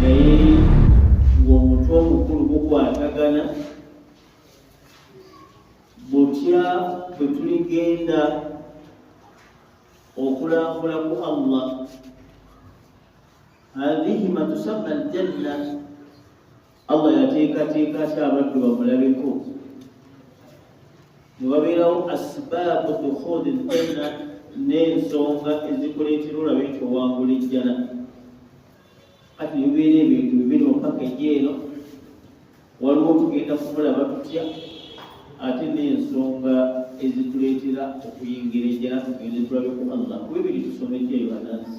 naye ng'omutwe omukulu gukwatagana butya bwe tuligenda okulambula ku allah hadhihi matusamma aljanna Allah yateekateeka ate abaddu bamulabeko ne wabeerawo asbaabu dukhuli ljanna n'ensonga ezikuleetera olabe nti owangula ejjana kati bibeera ebintu bibiri mupaka ejeeno waliwo tugenda kumulaba tutya ate n'ensonga ezituleetera okuyingira ejjana tugende tulabe ku allah ku bibiri tusomejjeyo banansi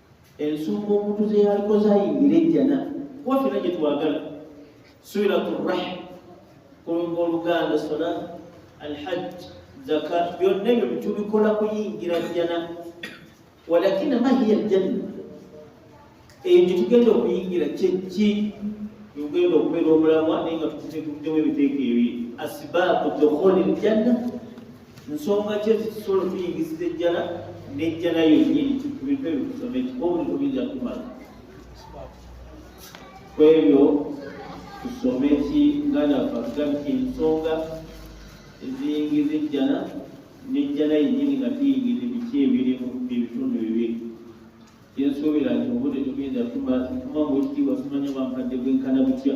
ensonga omuntu ze yaliko zayingira ejjana kuba fena gye twagala suiratu rahim kulunga oluganda sola alhajj zaka byonna ebyo tubikola kuyingira jjana walakina mahiya ljanna eyo gyetugenda okuyingira kyekki yogenda okubeera omulamwa naye nga tukutekudemu ebiteeka ebiri asibaabu dokholi ljanna nsonga ki ezitusobola okuyingisiza ejjala n'ejjala yonnyini ku bintu ebyo tusome kikuba obuliko biyinza kumala ku ebyo tusome ki muganda waffe atugambi ensonga eziyingiza ejjala n'ejjala yennyini nga tuyingiza ebiki ebirimu ebitundu bibiri yensuubira nti obudde tugenda tuma tuma bwekitiibwa tumanya bwankadde bwenkana butya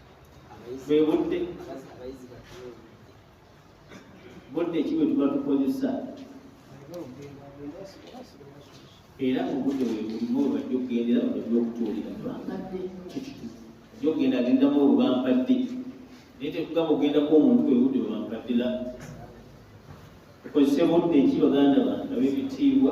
bwebudde budde ki bwe tuba tukozesa era obudde webulimu webajja okugendera webajja okutuulira bampadde ajja okugenda agendamu olwo bampadde naye tekugamba okugendako omuntu webudde webampadde la okozese budde ki baganda bange ab'ebitiibwa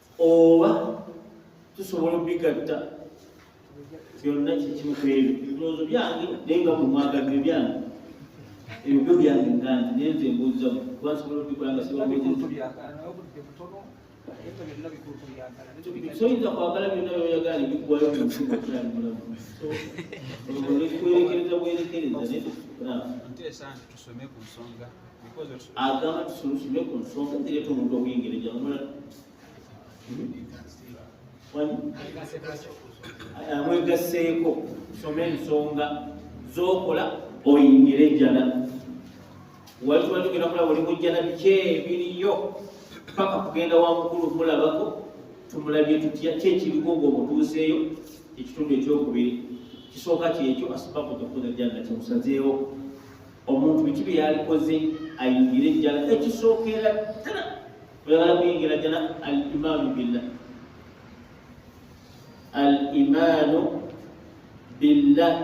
oba tusobola obigatta byonna kyekimu kwebyo ebirowoozo byange naye nga mumwagalire byange ebyo byo byange ngange naye nze mbuuza kuba nsobola obikola nga sibasoyinza kwagala byonna byoyagala nebikuwayo munsimu okulali mulamu olwekikwerekereza bwerekereza naye tukukulaba agamba tusulusime ku nsonga zireeta omuntu okuyingira ejamula amwegasseeko soma ensonga zokola oyingire ejjana wali tuba tugenda kulaba oli mujjana biki ebiriyo paka kugenda wa mukulu mulabako tumulabye tutya kyekirigo nga omutuuseeyo ekitundu ekyokubiri kisooka kyekyo asibaku tokuza janna kyemusazeewo omuntu biki bye yalikoze ayingire ejjana ekisookera ddala oyagala kuyingira jjana al imaanu billah al imaanu billah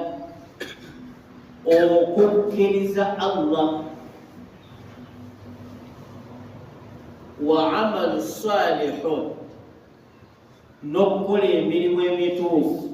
okukkiriza allah wa amalu salihu n'okukola emirimu emituufu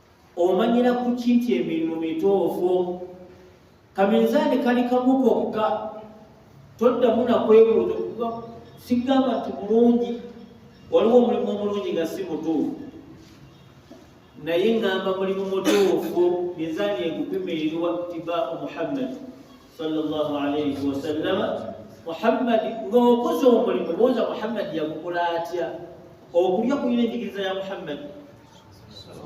omanyira ku ki nti emirimu mituufu kaminzaani kali kamu kokka toddamu nakwebuuza okuba sigamba nti mulungi waliwo omulimu omulungi nga si mutuufu naye ngamba mulimu mutuufu minzaani egupimirirwa tibaau muhammadi sallallahu alaihi wasallama muhammadi ng'okoze omulimu buuza muhammadi yagukola atya okulya kuyina enjigiriza ya muhammadi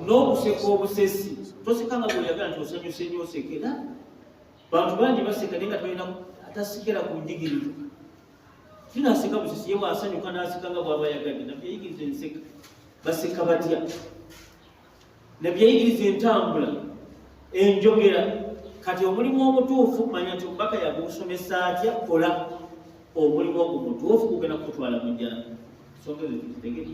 n'okuseka obusesi toseka nga bweyagala nti osanyuse nyo osekera bantu bangi baseka naye nga tolina atasikera ku njigiriza tinaseka busesi ye wasanyuka naseka nga bwaba yagadde nabyeyigiriza enseka baseka batya nabyeyigiriza entambula enjogera kati omulimu omutuufu manya nti omubaka yagusomesa atya kola omulimu ogwo mutuufu gugenda kukutwala mujjana songa ezo tuzitegere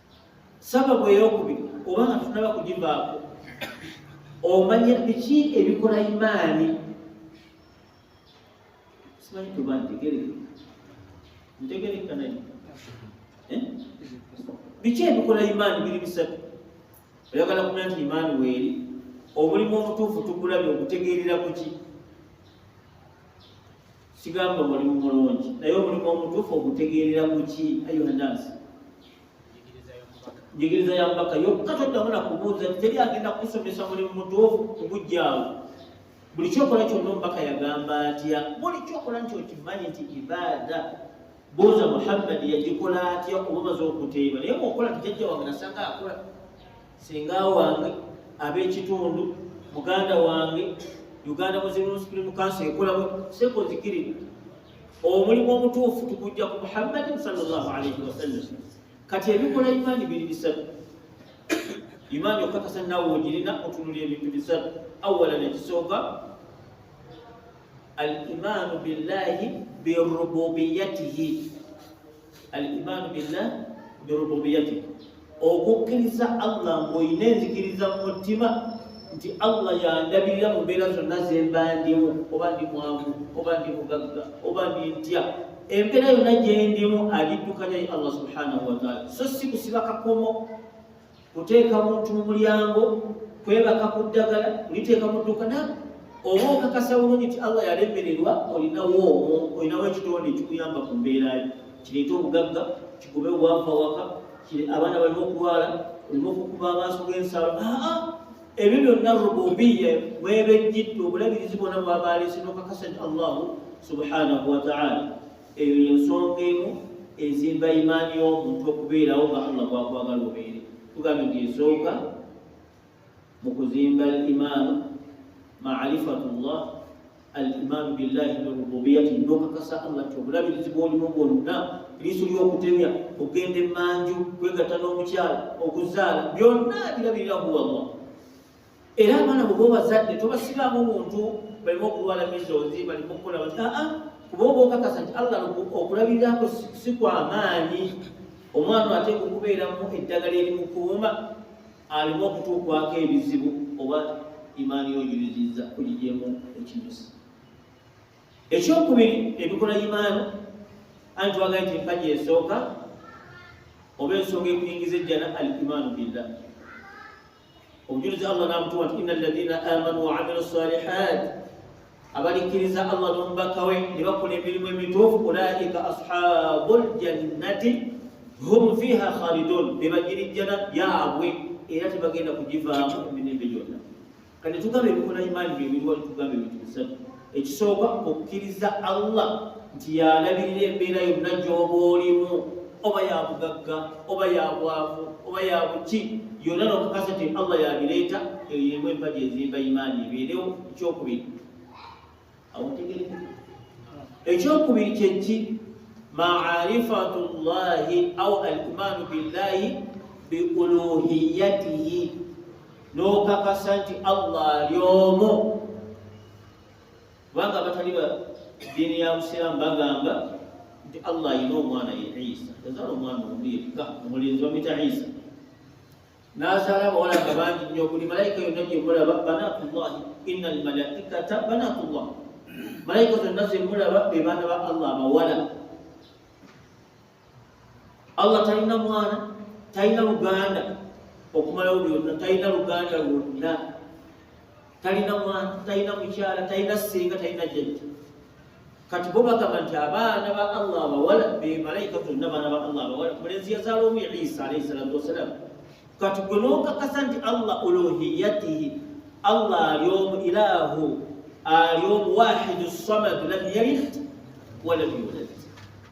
sababu eyokubiri oba nga tunaba kugivaako omanya biki ebikola imaani simanyi tuba ntegereka ntegereka naye eh? biki ebikola imaani biri bisatu oyagala kumanya nti imaani weeri omulimu omutuufu tugulabye okutegeerera kuki sigamba mulimu mulungi naye omulimu omutuufu ogutegeerera muki ayuhanasi njigiriza ya mubaka yokka toddamu na kubuuza nti teri agenda kukusomesa mulimu mutuufu kugujjaawo buli kyokola kyonna omubaka yagamba atya buli kyokola nti okimanyi nti ibaada buuza muhammadi yagikola atya oba omaze okuteeba naye muokola tijajja wange nasanga akola singa wange ab'ekitundu muganda wange uganda muslim supreme council ekolamu sekozikirira omulimu omutuufu tukujja ku muhammadin salllah alaihi wasallam kati ebikola imaani biri bisatu imaani okakasa nawe ogirina otunula ebintu bisatu awala nekisooka al imaanu billahi birububiyatihi al imaanu billah birububiyati okukkiriza allah ng'olina enzikiriza mu mutima nti allah yandabirira mu mbeera zonna zembandimu oba ndi mwangu oba ndi mugagga oba ndi ntya embeera yonna gyendimu agiddukanya ye allah subhanahu wataala so si kusiba kakomo kuteeka muntu mu mulyango kwebaka ku ddagala kuliteeka mu ddukana oba okakasa bulungi nti allah yalemererwa olinawo omwo olinawo ekitonde ekikuyamba ku mbeera yo kireeta obugagga kikube obwavu awaka abaana balina okulwala olina okukuba amaaso g'ensalo aa ebyo byonna rububiya mwebejjidde obulabirizi bwona bwabaalese nokakasa nti allahu subhanahu wataala eyo yensonga emu ezimba imaani y'omuntu okubeerawo nga allah gwakwagala obeere tugambye nti esooka mu kuzimba al imaanu maarifatu llah al imaanu billahi birububiyati nokakasa allah nti obulabirizi bwolimu bwonna liiso lyokutemya okugenda emanju kwegatta n'omukyala okuzaala byonna birabirira huwa llah era abaana bwe bobazadde tobasibaamu muntu balimu okulwala mizozi balimu okukola bati aa ah, ah, kuba oba okakasa nti allah okulabiriraako si kwamaanyi omwana ateeka okubeeramu eddagala erimukuuma alimu okutuukwako ebizibu oba imaani yoyuliziza kuligyemu ekinyusi ekyokubiri ebikola imaani anti wagaye nti empaji esooka oba ensonga ekuyingiza ejjana al imaanu billah obujulizi allah nabutuwa nti ina alladina amanu waamilu salihat abalikkiriza allah n'omubaka we ne bakola emirimu emituufu ulaika ashabu ljannati hum fiha khalidun be bagirijjana yaabwe era tebagenda kugivaamu emirembe gyonna kati tugambe ebikola imaani byebiriwa tugambe ebintu bisatu ekisooka okukkiriza allah nti yalabirira embeera yonna gy'oba olimu oba ya bugagga oba ya bwavu oba ya buki yonna nokakasa nti allah yabireeta eyo yemu empaji ezimba imaani ebeerewo ekyokubiri awotegereka ekyokubiri kyeki maarifatu llahi au alimaanu billahi biuluhiyatihi n'okakasa nti allah ali omu kubanga abatali ba ddiini ya busiraamu bagamba nti allah alina omwana ye isa yazaala omwana omu yekka omulenzi bamwita isa n'azaala abawala nga bangi nnyo buli malayika yonna gyemulaba banatullahi ina almalaikata banatullah malayika zonna zemulaba be baana ba allah abawala allah talina mwana talina luganda okumalawo byonna talina luganda lwonna talina mwana talina mukyala talina singa talina jajja kati bo bagamba nti abaana ba allah abawala bemalayika tonna baana ba allah abawala mulenzi yazaala omu ya isa alaihi salatu wassalamu kati gwe nokakasa nti allah uluhiyatihi allah ali omu ilahu ali omu wahidu samadu lam yalid walam yulad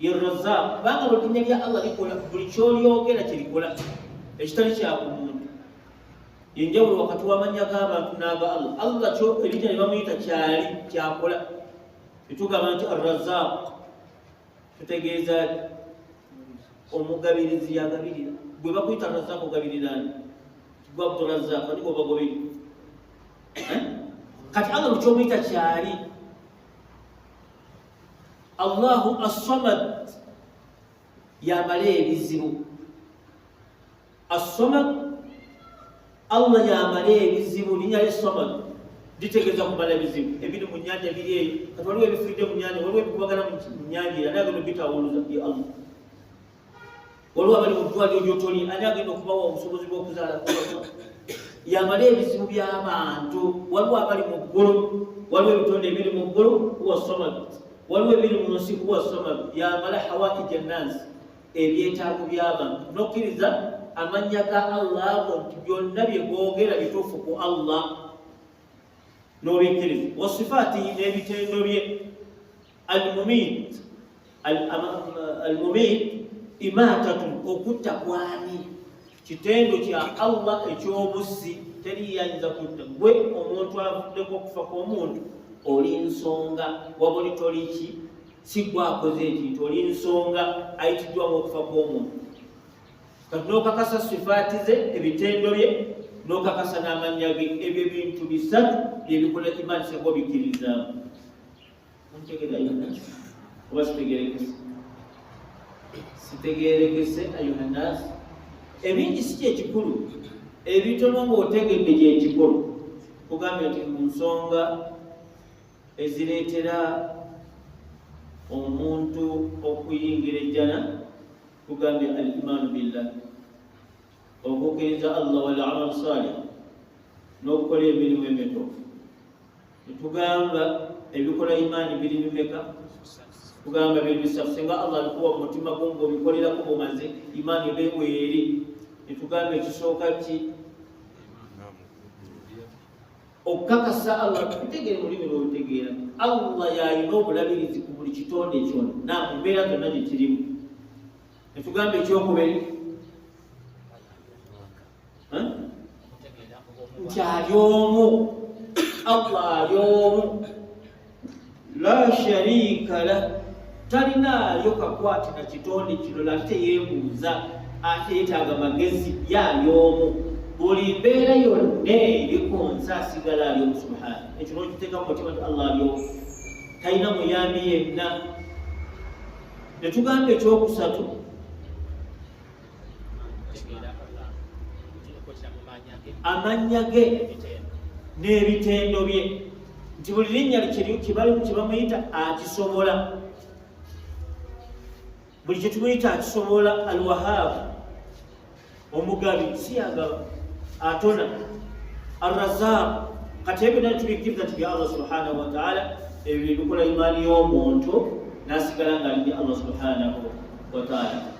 ye razaq kubanga bwedinnya lya allah likola buli kyolyogera kyerikola ekitali kyakumuntu yenjawulo wakati wamanya gabantu naga allah allah kyo ebinnya nebamuyita kyali kyakola etugamba nti arrazaq tutegeeza omugabirizi yagabirira gwe bakuyita razaq ogabirirani gwe abdurazaq ani gwobagobiri eh? kati allah mukyomuyita kyali allahu assamad yamala ebizibu assamad allah yamala ebizibu linya lye samad litegeeza kumala ebizibu ebiri mu nyanja biri eyo kati waliwo ebifiridde mu nyanja waliwo ebikubagana mu nyanja era nabino bitawuluza ye allah waliwo abali mu ddwaliro gyotoli ani agenda okubawa obusobozi bw'okuzaala yamala ebizibu by'abantu waliwo abali mu ggulu waliwo ebitonde ebiri mu ggulu huwa samad waliwo ebiri mu nsi huwa samad yamala hawaija nnansi ebyetaago by'abantu nokkiriza amannya ga allah ago nti byonna bye googera bituufu ku allah n'obikkiriza wasifaatihi n'ebitendo bye almumit almumit imatatun okutta kwani kitendo kya allah ekyobuzzi teriyinza kutta gwe omuntu avuddeko okufa kwomuntu oli nsonga wabuli toliki sigwakoze ekintu oli nsonga ayitiddwa ngaokufa kwomuntu kati nokakasa sifaati ze ebitendo bye nokakasa n'amannya ge ebyo bintu bisatu byebikolera imaani seko bikkirizamu Muntegera Yonas. Oba sitegerekese. Sitegerekese ayuha nas. Ebingi si kyekikulu. Ebitono ng'otegedde gyekikulu. Kugambye nti mu nsonga ezireetera omuntu okuyingira ejjana kugambye al imaanu billah okukkiriza allah wal amalu salih n'okukola emirimu emituufu ntugamba ebikola imaani biri bimeka tugamba biri bisatu singa allah alikuwa mumutima gwo ngaobikolerako bumaze imaani beweeri netugamba ekisooka ki okukakasa allah tukutegeere mulimi lwolutegeera allah yalina obulabirizi ku buli kitonde kyona namubeera zonna gyekirimu netugamba ekyokuberi nti ali omu allah ali omu la sharika la talinaayo kakwate na kitonde kino lali teyebuuza ate yetaaga magezi yaali omu buli mbeera yonna eriko nze asigala ali omu subhana ekyo nokiteeka mu mutima ti allah ali omu talina muyambi yenna netugamba ekyokusatu amannya ge n'ebitendo bye nti buli linnya kibalimu kyebamuyita akisobola buli kyetumuyita akisobola alwahaabu omugabi siyagaba atona arrazaq kati ebyo nali tubikkiriza nti bya allah subhanahu wataala ebyo byebikola imaani y'omuntu nasigala nga ali bya allah subhanahu wataala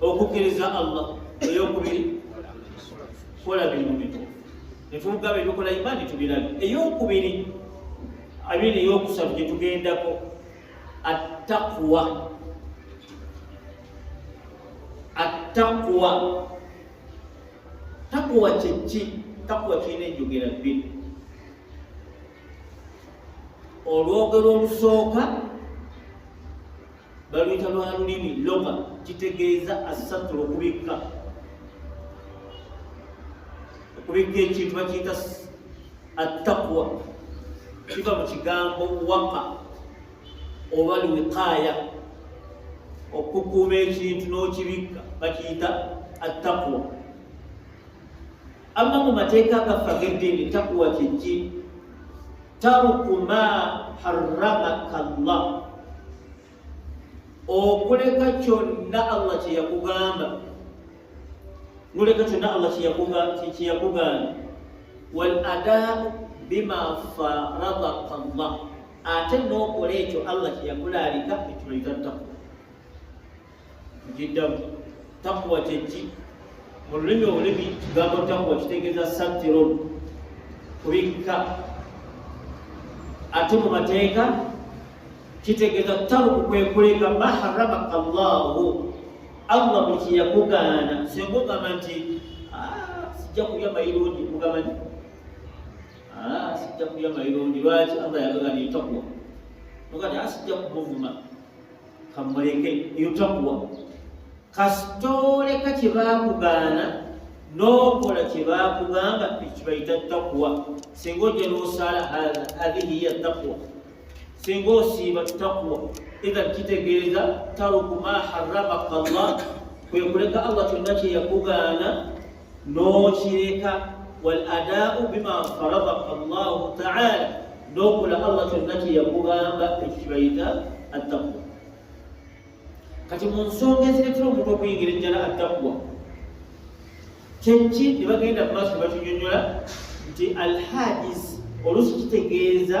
okukkiriza allah eyokubiri kola bintu bito netugaba ebikola imani tubirabe eyokubiri abiri eyokusatu gyetugendako attakuwa attakuwa takuwa kyekki takuwa kirina enjogera bbiri olwogero olusooka baluyita lwa lulimi loga kitegeeza asatula okubikka okubikka ekintu bakiyita attakwa kiva mu kigambo waka oba lwiqaaya okukuuma ekintu n'okibikka bakiyita attakwa Amma mu mateeka gaffe ag'eddiini takuwa kyeki taruku ma harramaka llah okuleka kyonna allah kye yakugamba noleka kyonna allah kyeyakugamba wal adaau bima faradaka llah ate n'okola ekyo allah kye yakulaalika ekyo bayita takuwa njiddamu takuwa kyeki mu lulimi olulimi kigambo takuwa kitegeeza satiron kubikka ate mu mateeka kitegeeza taruku kwekuleka maharamaka llahu allah bwekiyakugaana singa ogamba nti ah, sijja kulya mayirungi kugamba nti ah, sijja kulya mayirungi lwaki allah yagagana etakuwa ogati asijja ah, kumuvuma kamuleke eyo takuwa kasitooleka kye baakugaana n'okola kye baakugamba ekibayita takuwa singa ojja n'osaala hadhihi ya takuwa singa osiiba takuwa idhan kitegeeza taruku ma haramaka llah kwe kuleka allah kyonna kye yakugaana n'okireka wal adaau bima farada allahu taala n'okola allah kyonna kye yakugamba ekyo kibayita attaqwa kati mu nsonga eziretera omuntu okuyingira ejjala attaqwa kyeki ne bagenda mu maaso ne bakinyonyola nti alhadis oluusi kitegeeza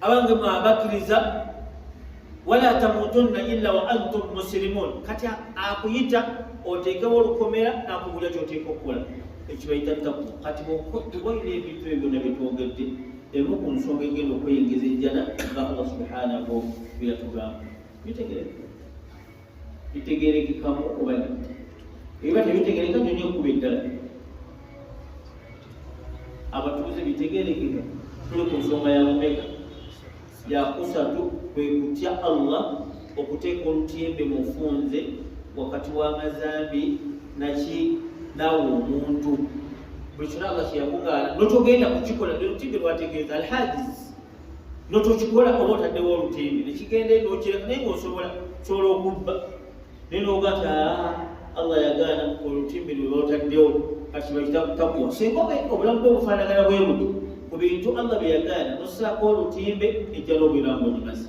abange mwe abakkiriza wala tamutunna illa wa antum musilimun kati akuyita oteekewo olukomera nakubulya kyoteeka okukola ekibayita taku kati bwokotuwaire ebintu ebyo byona byetwogedde emu ku nsonga egenda okweyingiza ejjana nga allah subhanahu byeyatugamba bitegereza bitegerekekamu oba ebiba tebitegereka nyonyo okuba eddala abatuuze bitegerekeka tuli ku nsonga ya mumeka yakusatu kwe kutya allah okuteeka olutyembe mufunze wakati w'amazambi naki nawe omuntu buli kyona nga kyeyakugaana notogenda kukikola lwelutimbe lwategeeza alhadis notokikola oba otaddewo olutembe nekigenda nokireka naye ngaosobola sobola okubba naye nogati ah, allah yagaana olutimbe lwebataddewo kati bakitakuwa singa obulamu bwe bufaanagana bwe buti ku bintu allah byeyagaana nosaako olutimbe ejjala obulamu bwegimazi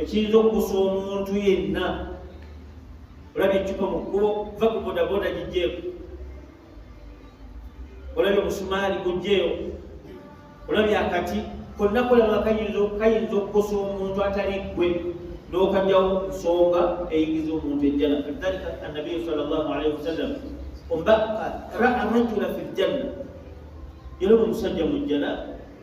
ekiyinza okukusa omuntu yenna olabye ecupa mu kkubo va ku bodaboda gijjeeko olabye omusumaali gujjeewo olabye akati konna kolaba kayinza okukosa omuntu atali ggwe n'okanyawo nsonga eyingiza omuntu ejjana kadhalika annabiyu sal llah alaihi wasallam ombaka raa rajula fi ljanna yalaba omusajja mu jjana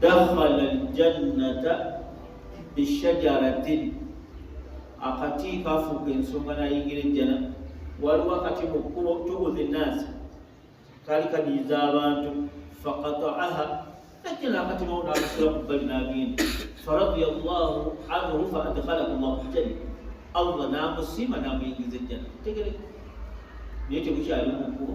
dakhala aljannata bishajaratin akati kafuuka ensonga nayingira ejjana waliwo akati mu kkubo tubuzi nnaasi kaali kadiyiza abantu fakataaha najja nakati mawo nakusula ku bbali nagenda faradia llahu anhu fa adkhalahu llahu janna allah namusiima namuyingiza ejjana tegereka naye tebukyali mu kkubo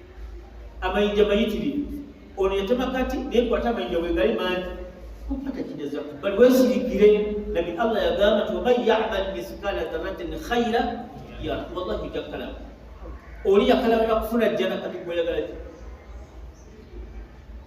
amayinja mayitirivu ono yatema kati naye kwata amayinja wegali mangi kupatakiriza bali wesirikire nabi allah yagamba ti waman yamal misikala dharatin khaira ya wallahi jakalaba oli yakalabana kufuna jjana kati gweyagala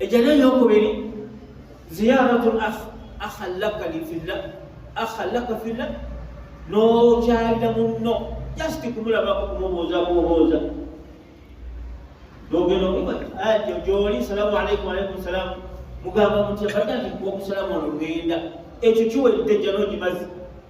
ejana eyokubiri ziyaratu akhalaka lifilla akhalaka filla nokyalira munno just kumulabako kumubuuza kububuuza nogenda omubajo gyoli salamu alaikum alaikum salamu mugamba mutya bajja nti kuwa okusalamu ono ngenda ekyo kiwedde jana ogimazi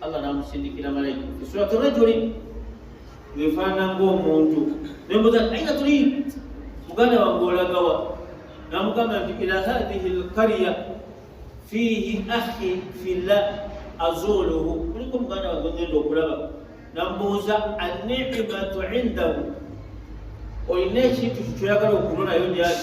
allah namusindikira malayika fi surati rajuli ngefaanana ng'omuntu nembuza aina tuli muganda wange olagawa namugamba nti ila hadhihi lqarya fiihi ahi fillah azuuluhu kuliko muganda wange ngenda okulaba namubuuza anicimatu indahu olina ekintu kyoyagala okunonayo gyali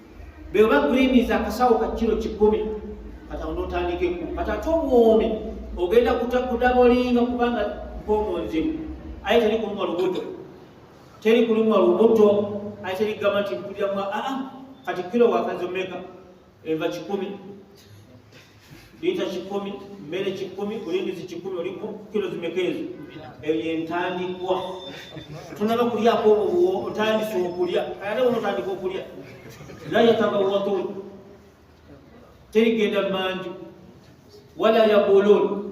bweba griniza akasawo ka kiro kikumi kata onotandikeko kata ate obwomi ogenda kudabolinga kubanga mpomu nzibu aye teri kulumwa lubuto teri kulumwa lubuto aye teri kugamba nti mpuliramu aa ah, ah, kati kiro wakazomeka eva kikumi lita kikumi mmere kikumi olindizi kikumi oliku kilo zimeka ezo eyo yentandikwa tonaba kulyako obuwo otandise okulya ate bona otandika okulya la yatabawatun terigenda manju wala yabulun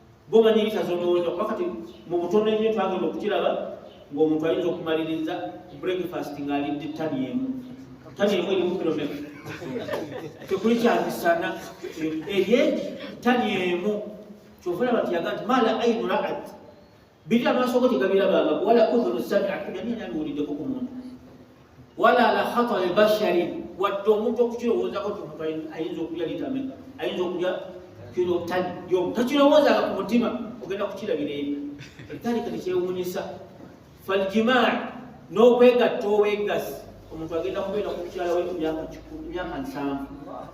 goma nyingi tazonoweza kuba kati mu butono ennyo twagenda okukiraba ng'omuntu ayinza okumaliriza breakfast ng'alidde ttani emu ttani emu erimu kilometa tekuli kyamisana eryegi ttani emu kyova olaba nti yaga nti mala ainu raat biri amaaso go tegabirabanga wala udhunu samiat nabi nabiwuliddeko ku muntu wala ala khatari bashari wadde omuntu okukirowoozako nti omuntu ayinza okulya litame ayinza okulya kiro tani yomu takirowoozanga ku mutima ogenda kukirabira eri etalika tekyewuunyisa faljimaa n'okwegatta obweggasi omuntu agenda kubeera ku mukyala we emyaka nsanvu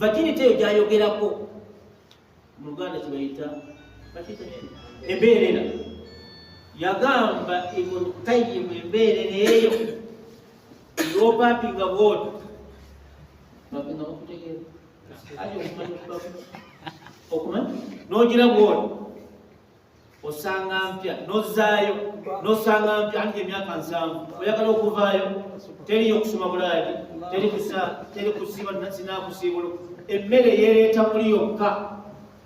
virginity eyo gyayogerako mu luganda kibayita embeerera yagamba ibn qayyim embeerera eyo eyopapinga bwoto bapinga bakutegeera ati okumanya okuba okumanya nogira bwoto osanga mpya nozaayo nosanga mpya anti emyaka nsanvu oyagala okuvaayo teriyo okusoma bulaadi teri kusiba sinakusiibulu emmere yereeta muli yokka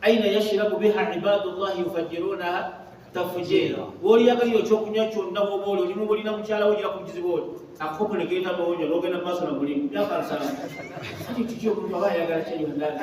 aina yashirabu biha ibadullahi yufajirunaha tafujeera woyagalira okyokunywa kyonna woba oli olimu bulina mukyala wogira ku kizibu oli akukopo negeeta mawonyo nogenda mu maaso na mulimu myaka nsanvu kati kiki omuntu aba ayagala kyenyondana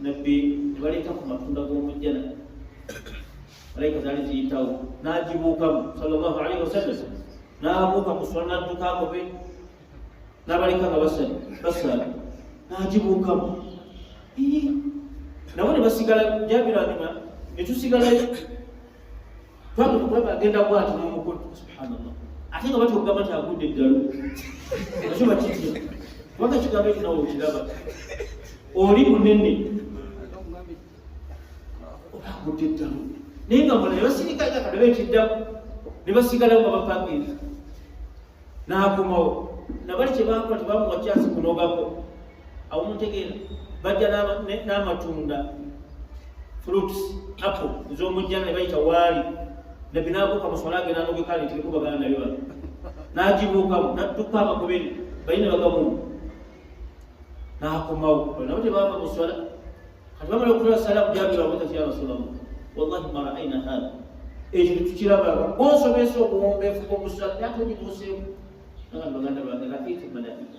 nabbi ne baleeta ku matunda g'omujjana malayika zaali ziyitawo n'agibuukamu sallallahu alaihi wasallam n'abuuka ku sula n'adduka agobe n'abaleka nga basali basala n'agibuukamu nabo ne basigala jabira nyuma ne tusigalayo bamukubaba agenda kwati nomukulu subhanallah ate nga batya okugamba nti agudde eddalu ekiba kitya kubanga ekigambo ekyo nawe okiraba oli munene oba agudde eddalu naye nga mulayo basirikaga kadaba ekiddamu ne basigalawo nga bapangira n'akomawo nabali kye bakola tebamuwa kyansi kunogako awo mutegeera bajja n'amatunda fruits apple ez'omujjana ne bayita waali nabbi n'abuuka mu swala agenda anogekaali nti likuba gana nayo bano n'agibuukamu n'adduka amakubiri bali ne bagamu n'akomawo nabo tebaava mu swala kati bamala okutula sala kujabira wabuuza ti ya rasulamu wallahi ma raaina hadha ekyo tetukirabako gwonsomesa obuwombeefu bwomusala ate ogibuuseemu naga baganda bange lakitu malaika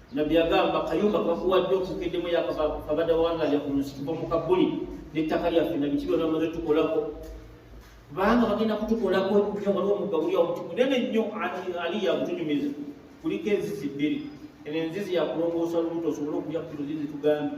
nabbi agamba kayumba kakuwadde okukedemu yakabada wanga yakumusikuva mu kabuli nettaka lyaffe nabiki byona bamaze tukolako kubanga bagenda kutukolako nyo waliwo mugabuli awo muti munene nnyo ali yakutunyumiza kuliko enzizi bbiri eno enzizi yakulongoosa lubuto osobole okulya kiro zizi tugambye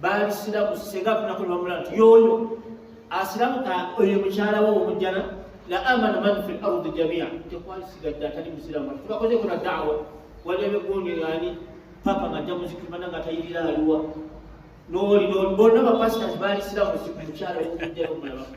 baali siramu senga afunako nebamulaba nti yoyo asiramuka oyo mukyala wo omujjana la amana man fi lardi jamia tekwali sigadde atali musiramu ati tubakozeko na dawa wali abegondi ani papa nga ajja muzikimana nga atayirira aliwa noli noli bonna bapasitasi baali siramu mukyala wo omujjana omulabako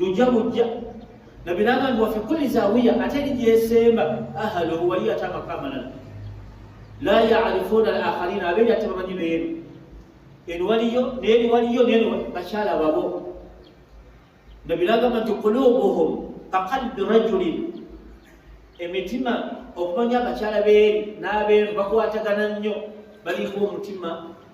lujja bujja nabiranga nti wafe kulli zawiya ate eri gyesemba ahaluhu waliyo ate amaka amalala la yarifuuna al akharina abeeri ate bamanyi beeru eno waliyo neeri waliyo neno bakyala babo nabiragamba nti kulubuhum kaqalbi rajulin emitima okumanya abakyala beeri n'abeeru bakwatagana nnyo balimu omutima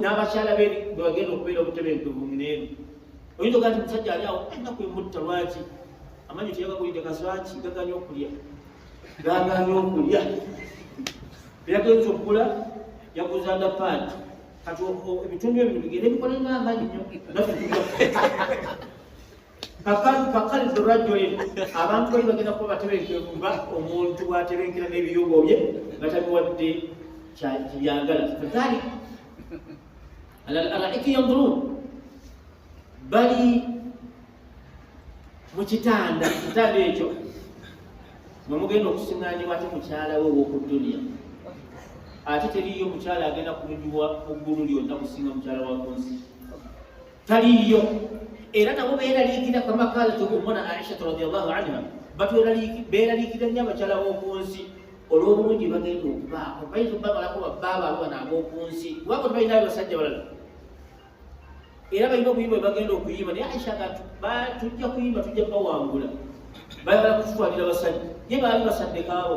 n'abakyala be bwebagenda okubeera obutebenkevu muneeno oyinza ogaa ti musajja ali awo ennaku emutta lwaki amanyi teyagagulidde kaswaki gaganye okulya gaganye okulya eyagenza okugula yaguza nda paati kati ebitundu ebyo bigenda ebikola nga amanyi nyo naffe kakaliza rajuli abantu bali bagenda kuba batebenkevu nga omuntu bwatebenkera n'ebiyogo bye nga tabiwadde byagala ali alaraiki yandurun bali mu kitanda kitanda ekyo mwe mugenda okusiŋanibwa ate mukyala we ow'oku duniya ate teriyo mukyala agenda kunyuwa mu ggulu lyonna kusinga mukyala wa kunsi taliiyo era nabo beeraliikira kama kalat umuna aishatu radiallahu anha beeraliikira nnyo abakyala b'oku nsi olw'obulungi bagenda okubaako bayinza okubamalako babbaabo abo bana ab'oku nsi kubanga tebalina abasajja balala era balina okuyimba bwe bagenda okuyimba naye aisha kati tujja kuyimba tujja bawangula bayagala kututwalira basajja ye baali basaddekaabo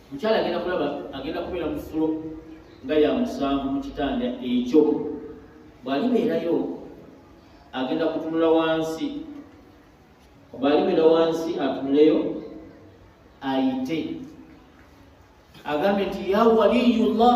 mukyala agenda kulaba agenda kubeera mu fulo nga ya musanvu mu kitanda ekyo bw'alibeerayo agenda kutunula wansi bw'alibeera wansi atunuleyo ayite agambe nti ya waliyullah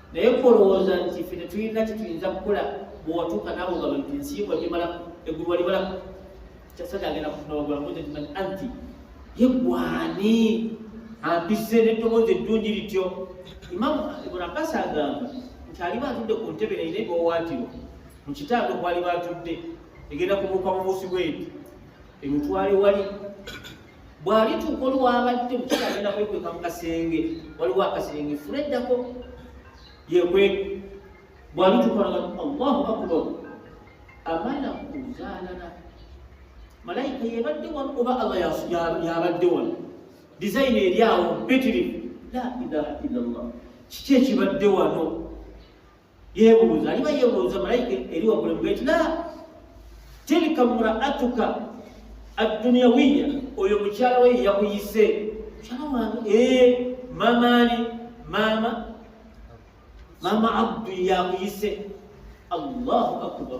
naye kolowooza nti ffe tetulina kyetuyinza kukola bwewatuuka nabo nga nti nsiibwa gimala eggulu walibalako kyasada agenda kufunawagulamuze timanyi anti yegwani ampise neddoboozi eddungi lityo imamu ibn abbas agamba nti aliba atudde ku ntebe naye nebawaatiro mu kitaago kwaliba atudde egenda kubuuka mubuusi bweti emutwale wali bw'alituuka oluwabadde omukyala agenda kwekweka mu kasenge waliwo akasenge fula eddako yekweka bw'alituuka olwabadde allahu akbar amala kuzaalala malayika yebadde wano oba allah yabadde wano dizayini eri awo mpitirivu la ilaha illallah kiki ekibadde wano yebuuza aliba yebuuza malayika eri waggulu emuga nti la tilka mraatuka adduniyawiya oyo mukyala we yakuyise mukyala wange ee mamaani maama maama abdu yakuyise allahu akbar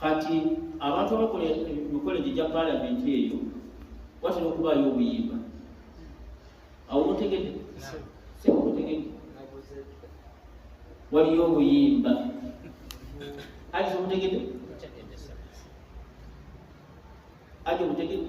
kati abantu abakola emikolo egyo gya palamenti eyo watera okubaayo obuyimba awo mutegede sebo mutegede waliyo obuyimba aje omutegede aje omutegede